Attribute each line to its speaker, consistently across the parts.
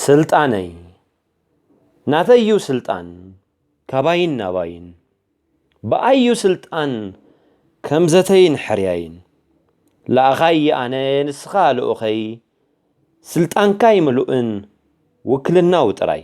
Speaker 1: ስልጣነይ ናተይ'ዩ ስልጣን ካባይን ናባይን ብኣይ'ዩ ስልጣን ከም ዘተይን ሕርያይን ለኣኻይ ኣነ ንስኻ ልኡኸይ ስልጣንካይ ምሉእን ውክልናዊ ጥራይ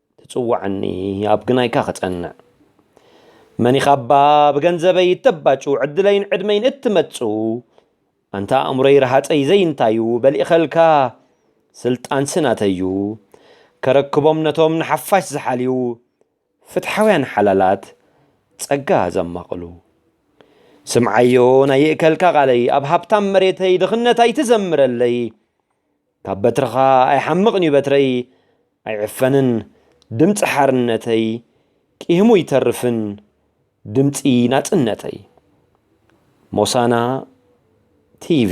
Speaker 1: ትጽውዓኒ ኣብ ግናይካ ክጸንዕ መን ኢኻባ ብገንዘበይ እተባጩ ዕድለይን ዕድመይን እትመጽኡ ኣንታ ኣእምሮይ ረሃጸይ ዘይንታዩ በሊእኸልካ ስልጣንሲ ናተዩ ከረክቦም ነቶም ንሓፋሽ ዝሓልዩ ፍትሓውያን ሓላላት ጸጋ ዘማቕሉ ስምዓዮ ናይ ይእከልካ ቃለይ ኣብ ሃብታም መሬተይ ድኽነት ኣይትዘምረለይ ካብ በትርኻ ኣይሓምቕን'ዩ በትረይ ኣይዕፈንን ድምጺ ሓርነተይ ቂህሙ ይተርፍን ድምጺ ናጽነተይ። ሞሳና ቲቪ።